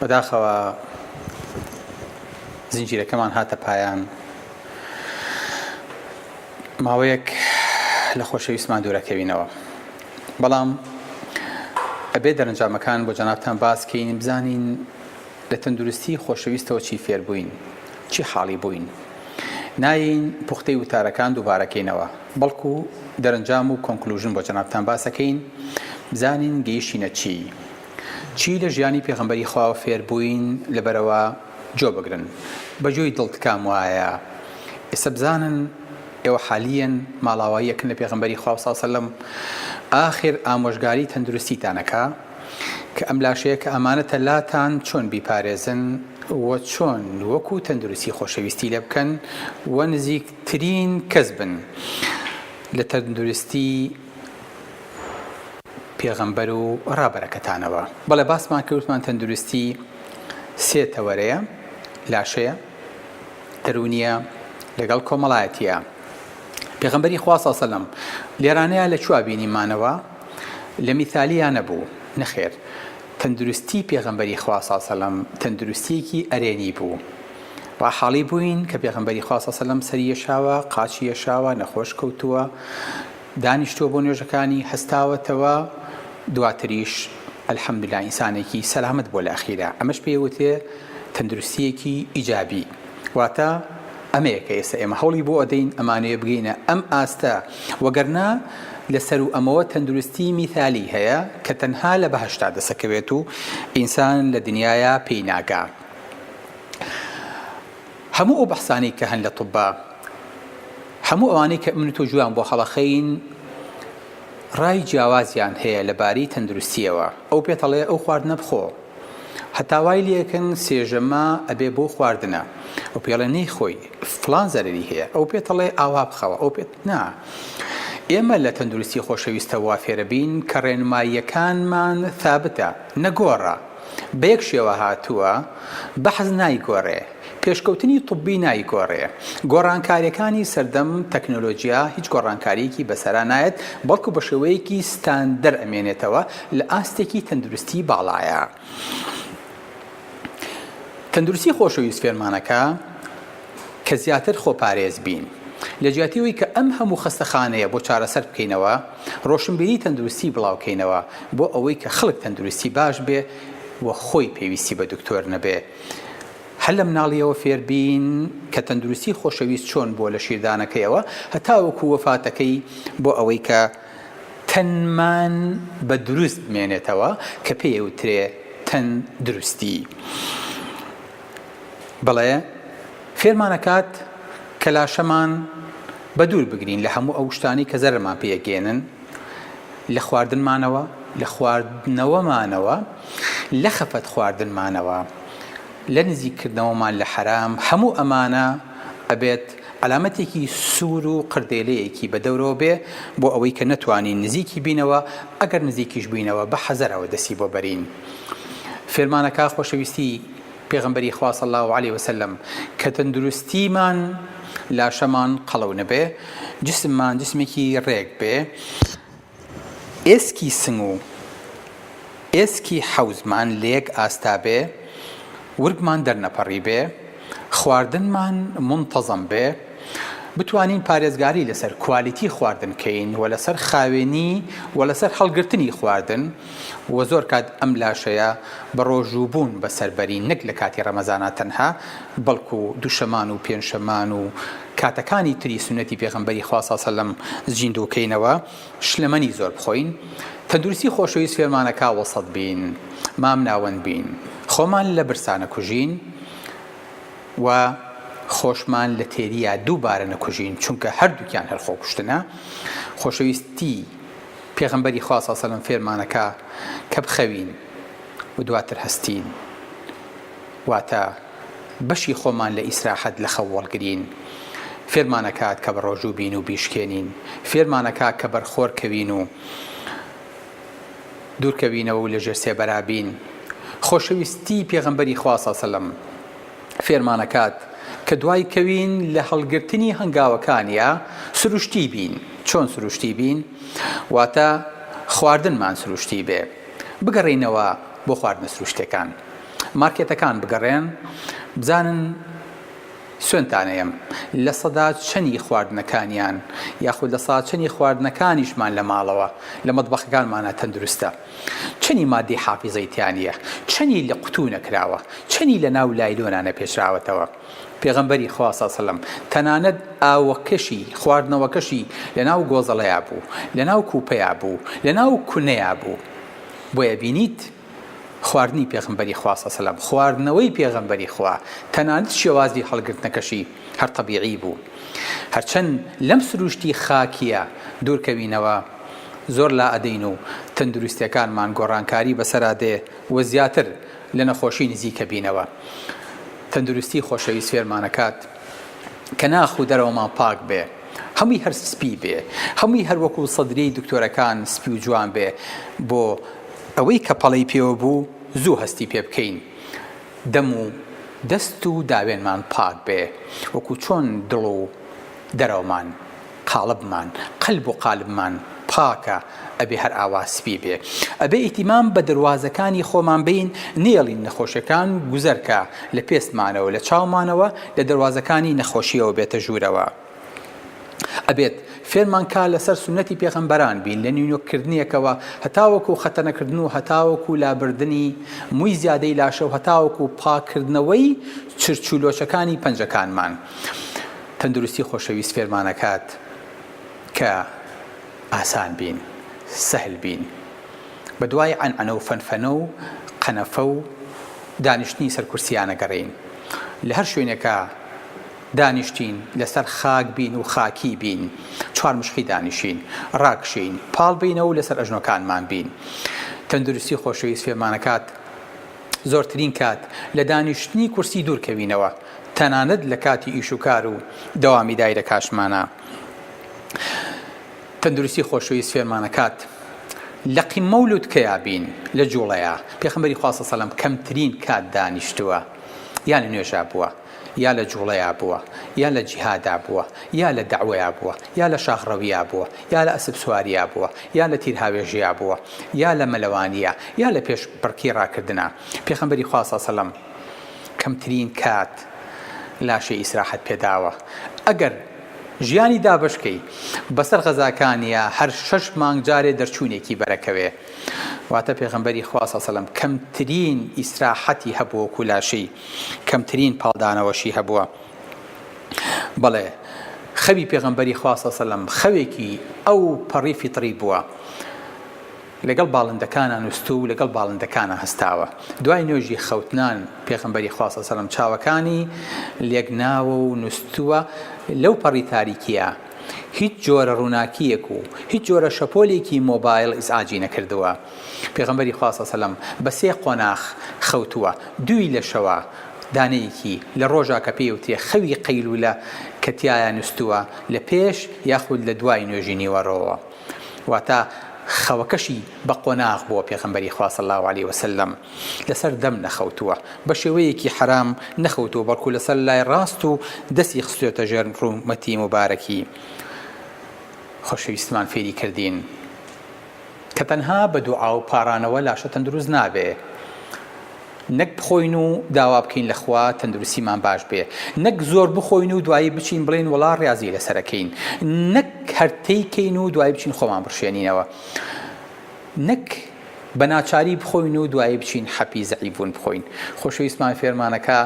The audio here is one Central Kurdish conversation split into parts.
بەداخەوە زنجیرەکەمان هاتە پایان ماوەیەک لە خۆشەویستمان دوورەکەوینەوە بەڵام ئەبێ دەرنجامەکان بۆ جەنابتان باسکەین بزانین لە تەندروستی خۆشەویستەوە چی فێربووین چی حاڵی بووین ناین پوختەی وتارەکان دووبارەکەینەوە بەڵکو دەرنجام و کۆنکلوژن بۆ جەنابتان باسەکەین بزانین گەیشتینە چی چی لە ژیانی پێغەمبەری خواوە فێر بووین لەبەرەوە جۆ بگرن بە جۆی دڵت کام وایە ئێستا بزانن ئێوە حالیەن ماڵاواییەکن لە پێغەمبەری خوا صلی سلم ئاخر ئامۆژگاری تەندروستیتانەکە کە ئەم لاشەیە کە ئەمانەتە لاتان چۆن بیپارێزن و چۆن وەکو تەندروستی خۆشەویستی لێ بکەن و نزیکترین کەس بن لە تەندروستی پێغەمبەر و ڕابەرەکەتانەوە. بەڵێ باسمان کرد وتمان تەندروستی سێ تەوەرەیە، لاشەیە، دەروونیە لەگەڵ کۆمەڵایەتیە. پێغەمبەری خوا صلی سەلەم لێرانەیا لە چوا بینیمانەوە؟ لە میثالیا نەبوو، نەخێر تەندروستی پێغەمبەری خوا صلی سەلەم تەندروستیەکی ئەرێنی بوو، ڕاحاڵی بووین کە پێغەمبەری خوا صلی اللە علیە و سلم سەری یەشاوە، قاچی یەشاوە، نەخۆش کەوتووە، دانیشتووە بۆ نوێژەکانی، هەستاوەتەوە، دواتریش الحمدللە ئینسانێکی سەلامەت بووە لە ئەخیرا، ئەمەش پێی وترێ تەندروستییەکی ئیجابی، واتە ئەمەیە کە ئێستا ئێمە هەوڵی بۆ ئەدەین ئەمانەوێ بگەینە ئەم ئاستە، وەگەرنا لە سەروو ئەمەوە تەندروستی میثالی هەیە کە تەنها لە بەهەشتا دەسەکەوێت و ئینسان لە دنیایا پێی ناگا. هەموو ئەو بەحسانەی کە هەن لە طوبا، هەموو ئەوانەی کە من و تۆ گوێیان بۆ هەڵەخەین، ڕای جیاوازیان هەیە لەبارەی تەندروستییەوە. ئەو پێتەڵێ ئەو خواردنە بخۆ، هەتا وای لێکن سێژەمە ئەبێ بۆ خواردنە. ئەو پێڵێ نەیخۆی، فڵان زەرەری هەیە. ئەو پێتەڵێ ئاوا بخەوە، ئەو پێت نا. ئێمە لە تەندروستی خۆشەویستە وا فێرەبین کە ڕێنماییەکانمان ثابتە، نەگۆڕە. بە یەک شێوە هاتووە، بەحس نایگۆرێ، پێشکەوتنی طوبی نایگۆرێ، گۆڕانکاریەکانی سەردەم تەکنۆلۆجیا هیچ گۆڕانکاریەکی بەسەرا نایەت، بەڵکو بە شێوەیەکی ستاندەر ئەمێنێتەوە، لە ئاستێکی تەندروستی باڵایە. تەندروستی خۆشەویست فێرمانەکە. کە زیاتر خۆپارێز بین. لە جیاتی ئەوەی کە ئەم هەموو خەستەخانەیە بۆ چارەسەر بکەینەوە، ڕۆشنبیری تەندروستی بڵاو کەینەوە بۆ ئەوەی کە خەڵک تەندروستی باش بێ و خۆی پێویستی بە دکتۆر نەبێ. هەر لە مناڵییەوە فێر بین کە تەندروستی خۆشەویست چۆن بووە لە شیردانەکەیەوە هەتاوەکوو وەفاتەکەی بۆ ئەوەی کە تەنمان بە دروست بمێنێتەوە کە پێی ئەوترێ تەن دروستی. بڵێ، فێرمان ئەکات کە لاشەمان بە دوور بگرین لە هەموو ئەو شتانەی کە زەرەرمان پێ ئەگەیەنن، لە خواردنمانەوە، لە خواردنەوەمانەوە، لە خەفەت خواردنمانەوە، لە نزیک کردنەوەمان لە حەرام، هەموو ئەمانە ئەبێت عەلامەتێکی سوور و قردێلەیەکی بە دەورەوە بێ بۆ ئەوەی کە نەتوانین نزیکی بینەوە، ئەگەر نزیکیش بووینەوە بە حەزەرەوە دەستی بۆ بەرین. فێرمان ئەکا خۆشەویستی. پێغەمبەری خوا صلی اللە علیە وسلم، کە تەندروستیمان، لاشەمان، قەڵەو نەبێ، جسممان جسمێکی رێک بێ، ئێسکی سنگ و ئێسکی حەوزمان لە یەک ئاستا بێ، ورگمان دەرنەپەڕیبێ، خواردنمان مونتەزەم بێ، بتوانین پارێزگاری لەسەر کوالیتی خواردن کەین و لەسەر خاوێنی و لەسەر هەڵگرتنی خواردن، وە زۆر کات ئەم لاشەیە بە ڕۆژوو بوون بەسەر بەرین نەک لە کاتی ڕەمەزانا تەنها بەڵکو دوشەمان و پێنشەمان و کاتەکانی تری سوننەتی پێغەمبەری خوا صلی سلم زیندوو کەینەوە شلەمەنی زۆر بخۆین تەندروستی خۆشەویست فێرمانەکا وەسەت بین مام ناوەند بین خۆمان لە برسا نەکوژین و خۆشمان لە تێریا دووبارە نەکوژین چونکە هەردووکیان هەر خۆکوشتنە خۆشەویستی پێغەمبەری خوا صلی سەلەم فێرمانەکا کە بخەوین و دواتر هەستین واتە بەشی خۆمان لە ئیسراحەت لە خەو وەڵگرین فێرمانەکات کە بەڕۆژوو بین و بیشکێنین فێرمانەکا کە بەرخۆر کەوین و دوورکەوینەوە و لە ژێر سێبەرا بین خۆشەویستی پێغەمبەری خوا صلی سەلەم فێرمانەکات کە دوای کەوین لە هەڵگرتنی هەنگاوەکانیا سروشتی بین چۆن سروشتی بین واتە خواردنمان سروشتی بێ بگەڕینەوە بۆ خواردنە سروشتەکان مارکێتەکان بگەڕێن بزانن سوێنتانەیەم لە سەدا چەنی خواردنەکانیان یاخود لە ساچەنی خواردنەکانیشمان لە ماڵەوە لە مەدبەخەکانمانە تەندروستە چەنی مادەی حافیزەی تیا نیە چەنی لە قوتو نەکراوە چەنی لە ناو لایلۆنا نەپێچراوەتەوە پێغەمبەری خوا سەڵ سەلەم تەنانەت ئاوەکەشی خواردنەوەکەشی لە ناو گۆزەڵەیا بوو لە ناو کوپەیا بوو لە ناو کونەیا بوو بۆیە بینیت خواردنی پێغەمبەری خوا سەڵ سەلەم خواردنەوەی پێغەمبەری خوا تەنانەت شێوازی هەڵگرتنەکەشی هەر تەبیعی بوو هەرچەند لەم سروشتی خاکیە دوورکەوینەوە زۆر لا ئەدەین و تەندروستیەکانمان گۆڕانکاری بەسەرا دێ و زیاتر لە نەخۆشی نزیک ئەبینەوە. تەندروستی خۆشەویست فێرمان ئەکات کە ناخ و دەرەوەمان پاک بێ، هەمووی هەر سپی بێ، هەمووی هەر وەکو سەدرەی دکتۆرەکان سپی و جوان بێ بۆ ئەوەی کە پەڵەی پێوە بوو زوو هەستی پێ بکەین. دەم و دەست و داوێنمان پاک بێ وەکو چۆن دڵ و دەرەوەمان. قاڵبمان، قەلب و قالبمان، پاکە، ئەبێ هەر ئاوا سپی بێ. ئەبێ ئیتیمام بە دەروازەکانی خۆمان بەین، نەیەڵین نەخۆشیەکان گوزەرکە لە پێستمانەوە، لە چاومانەوە، لە دەروازەکانی نەخۆشیەوە بێتە ژوورەوە. ئەبێت فێرمان کا لە سەر سوننەتی پێغەمبەران بین لە نینۆک کردنێکەوە هەتاوەکو خەتەنە کردن و هەتاوەکو لابردنی موی زیادەی لاشە و هەتاوەکو پاک کردنەوەی چرچ و لۆچەکانی پەنجەکانمان. تەندروستی خۆشەویست فێرمانەکات کە ئاسان بین، سەهل بین. بە دوای عەنعەنە و فەنفەنە و قەنەفە و دانیشتنی سەر کورسیانە گەڕێین. لە هەر شوێنێکا دانیشتین، لە سەر خاک بین و خاکی بین، چوار مشقی دانیشین، ڕاکشێین، پاڵ بینە و لە سەر ئەژنۆکانمان بین. تەندروستی خۆشەویست فێرمانەکات زۆرترین کات لە دانیشتنی کورسی دوور کەوینەوە. تەنانەت لە کاتی ئیش و کار و دەوامی دایرە کاشمانا تەندروستی خۆشەویست فێرمانەکات لە قیمە و لوتکەیا بین لە جوڵەیە پێخەمەری خواستە سەلم کەمترین کات دانیشتووە یا لە نوێژا بووە یا لە جوڵەیا بووە یا لە جیهادا بووە یا لە داوەیا بووە یا لە شاخڕەویا بووە یا لە ئەسب سواریا بووە یا لە تیرهاوێژەیە بووە یا لە مەلەوانە یا لە پێش بڕکی ڕاکردە پێخەمبەری خواسا سەلم کەمترین کات لاشەی ئیسراحەت پێداوە ئەگەر ژیانی دابەشکەی بەسەر غەزاکانیا هەر شەش مانگ جارێ دەرچوونێکی بەرەکەوێ واتە پێغەمبەری خوا صلی سەلم کەمترین ئیسراحەتی هەبووە کو لاشەی کەمترین پاڵدانەوەشی هەبووە بەڵێ خەوی پێغەمبەری خوا صلی سەلم خەوێکی ئەو پەڕی فیتڕی بووە لەگەڵ باڵندەکانا نوستوو و لەگەڵ باڵندەکانا هەستاوە. دوای نوێژی خەوتنان، پێغەمبەری خوا صلی سەلام چاوەکانی لێک ناوە و نوستووە لەو پەڕی تاریکیە هیچ جۆرە ڕووناکیەک و هیچ جۆرە شەپۆلێکی مۆبایڵ ئیزعاجی نەکردووە. پێغەمبەری خوا صلی سەلام بە سێ قۆناخ خەوتووە، دووی لە شەوا، دانەیەکی لە ڕۆژا کە پێی ئەوترێ خەوی قەیلولە کە تیایا نوستووە لە پێش یاخود لە دوای نوێژی نیوەڕۆوە. واتە خەوەکەشی بە قۆناغ بووە پێغەمبەری خوا صلی اللە علیە وسلم لەسەر دەم نەخەوتووە بە شێوەیەکی حەرام نەخەوتووە بەڵکو لەسەر لای ڕاست و دەستی خستێتە ژێر ڕوومەتی مبارەکی خۆشەویستمان فێری کردین کە تەنها بە دوعا و پارانەوە لاشە تەندروست نابێ نەک بخۆین و داوا بکەین لە خوا تەندروستیمان باش بێ، نەک زۆر بخۆین و دوایی بچین بڵێین وەڵا ڕیازی لەسەر ئەکەین، نەک هەر تەی کەین و دوایی بچین خۆمان بڕشێنینەوە، نەک بە ناچاری بخۆین و دوایی بچین حەپی زەعیفبوون بخۆین. خۆشەویستمان فێرمانەکا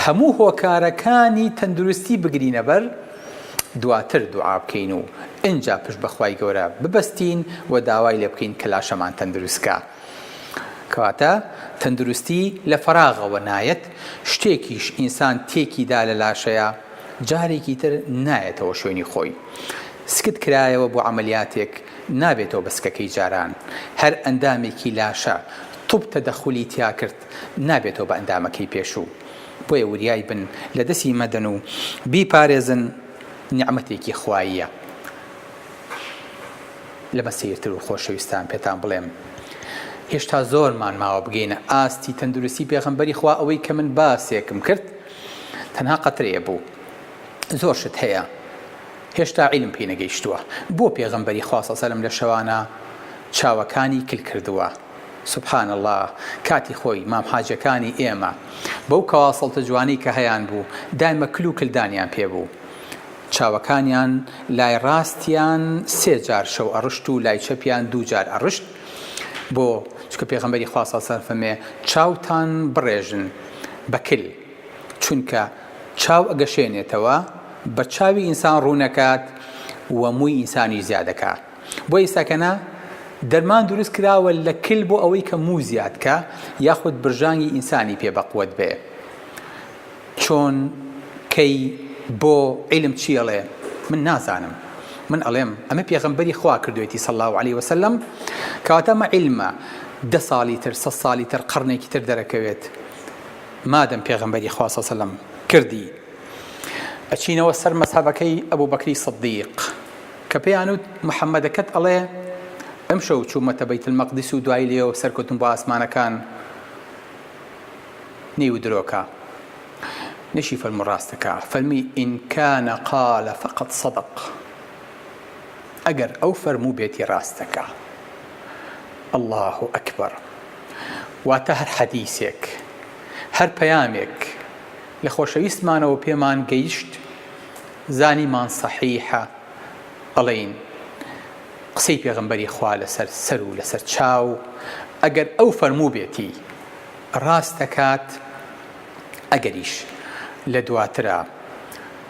هەموو هۆکارەکانی تەندروستی بگرینە بەر، دواتر دوعا بکەین و ئینجا پشت بە خوای گەورە ببەستین و داوای لێ بکەین کە لاشەمان تەندروست کا. کەواتە تەندروستی لە فەراغەوە نایەت، شتێکیش ئینسان تێکی دا لە لاشەیا جارێکی تر نایەتەوە شوێنی خۆی. سکت کرایەوە بۆ عەمەلیاتێک نابێتەوە بە سکەکەی جاران. هەر ئەندامێکی لاشە طوب تەدەخولی تیا کرد نابێتەوە بە ئەندامەکەی پێشوو. بۆیە وریای بن لە دەستی مەدەن و بیپارێزن نیعمەتێکی خواییە. لەمە سەیرتر و خۆشەویستان پێتان بڵێم هێشتا زۆرمان ماوە بگەینە ئاستی تەندروستی پێغەمبەری خوا ئەوەی کە من باسێکم کرد تەنها قەترەیە بوو زۆر شت هەیە هێشتا عیلم پێی نەگەیشتووە بۆ پێغەمبەری خواسە سەلم لە شەوانە چاوەکانی کل کردووە سبحان الله کاتی خۆی مام حاجەکانی ئێمە بەو کەواسەڵتە جوانی کە هەیان بوو دایمە کل و کلدانیان پێ بوو چاوەکانیان لای ڕاستیان سێ جار شەو ئەڕشت و لای چەپیان دوو جار ئەڕشت، بۆ؟ چونکە پێغەمبەری خوا صلی اللە علیە وسلم فەرمێ، چاوتان بڕێژن بە کل، چونکە چاو ئەگەشێنێتەوە بە چاوی ئینسان ڕوونەکات و مووی ئینسانیش زیادەکا، بۆ ئیستا کە نا دەرمان دروست کراوە لە کل بۆ ئەوەی کە موو زیادکا یاخود برژانگی ئینسانی پێ بەقوەت بێ. چۆن کەی بۆ عیلم چی ئەڵێ من نازانم من ئەڵێم ئەمە پێغەمبەری خوا کردوێتی صلی اللە علیە وسلم کەواتە ئەمە عیلمە دە ساڵی تر سە ساڵی تر قڕنێکی تر دەرەکەوێت مادەم پێغەمبەری خوا صلی اللە کردی ئەچینەوە سەر مەسحەبەکەی ئەبوو بەکری صدیق کە پێیان وت محەممەدەکەت ئەڵێ ئەم شەو چوومەتە بەیت المەقدس و دوای لێەوە سەرکەوتم بۆ ئاسمانەکان نیو درۆکە نشی فەرموو ڕاستەکا فەرمی ان کان قال فقد صدق ئەگەر ئەو فەرموو بێتی ڕاستەکا اللە اکبر واتە هەر حەدیسێک هەر پەیامێک لە خۆشەویستمانەوە پێمان گەیشت زانیمان صحیحە ئەڵین قسەی پێغمبەری خوا لەسەر سەر و لەسەر چاو ئەگەر ئەو فەرموو بێتی ڕاست دەکات ئەگەریش لە دواترا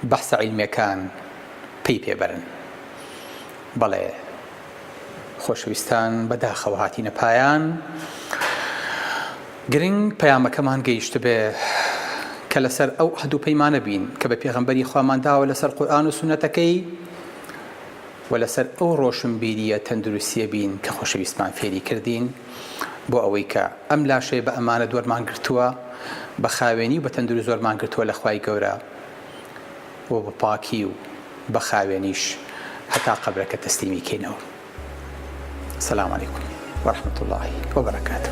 بەحسە عیلمیەکان پەی پێ بەرن. بەڵێ خۆشەویستان بە داخەوە هاتینە پایان. گرنگ پەیامەکەمان گەیشتبێ کە لەسەر ئەو عەهد و پەیمانە بین کە بە پێغەمبەری خوامان داوە لەسەر قورئان و سوننەتەکەی. و لەسەر ئەو ڕۆشنبیرییە تەندروستییە بین کە خۆشەویستمان فێری کردین، بۆ ئەوەی کە ئەم لاشەیە بە ئەمانەت وەرمان گرتووە، بە خاوێنی و بە تەندروست وەرمان گرتووە لە خوای گەورە و بە پاکی و بە خاوێنیش هەتا قەبرەکە تەسلیمی کەینەوە. سلام علیکم و رحمة اللە و برکاته.